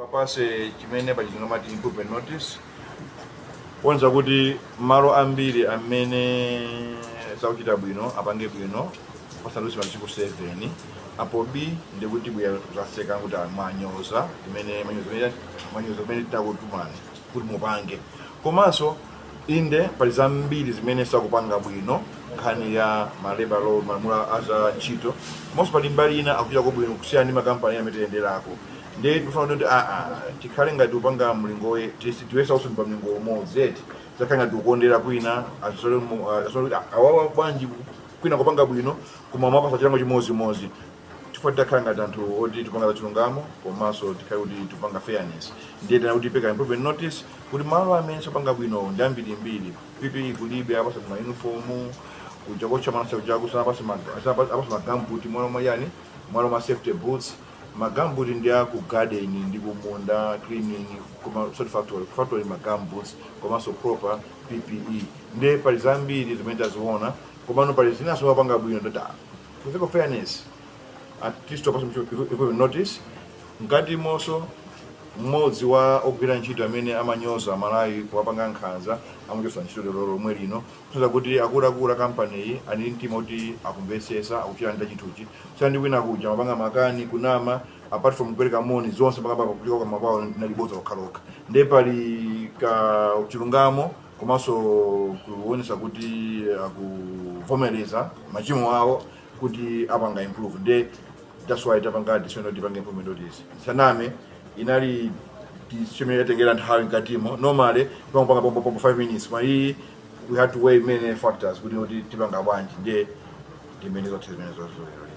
apase chimene pachizungu amati improvement notice poonetsa kuti malo ambiri amene sakuchita bwino apange bwino pasadutse masiku 7 apo bi ndiye kuti tibwera kuzatseka kuti mwanyoza zimene manyoza zimene tinakutumani kuti mupange komanso Inde, pali zambiri zimene sakupanga bwino nkhani ya ma labor law, malamulo a za ntchito, komanso pali mbali ina akuchitako bwino kusiyana ndi makampani ena amene tiyenderako. Ndiye tikufuna kuti aa tikhale ngati tikupanga mlingo woye- tisi- tiyesa onse ndi pa mlingo umodzi eti zakhala ngati tikukondera kwina azisole mu- ah, azizaona kuti, ah, awawa bwanji kwina akupanga bwino koma mwapasa chilango chimodzimodzi chifukwa titakhala ngati anthu oti tipanga za chilungamo komanso tikhale kuti tipanga fairness ndiye tinati tipereka improvement notice kuti malo amene sakupanga bwino ndi ambirimbiri ppe kulibe apasa ma uniform kuja kotentha mwana chauchaku sanapase magambuti m'malo mwa chani m'malo mwa safety boots magambuti ndi aku garden ndi kumunda cleaning koma sort factory factory magambuti komanso proper ppe ndiye pali zambiri zimene taziona komano pali zinaso apanga bwino ndati To think of fairness, at least to tapasa improvement notice, ngati komanso mmodzi wa ogwira ntchito amene amanyoza aMalawi kuwapanga nkhanza amuchotsa ntchito lero lomwe lino kuonetsa kuti akuluakulu a kampaniyi ali ndi mtima kuti akumvetsetsa akuchita nacho chinthuchi kusiyana ndi kwina kuja amapanga makani kunama apart from kupereka moni zonse pakapaka kukulika kwa mapawo linali bodza lokhalokha ndiye pali ka chilungamo komanso kuonesa kuti akuvomereza machimo awo kuti apanga improve nde that's why tapanga decision kuti tipange improvement notice osanama inali decision imene yatengera nthawi m'katimo normally timangopanga pompo pompo 5 minutes koma iyi we had to weigh many factors kuti kuti tipanga bwanji nde ndimene zathera zimenezozo lero lero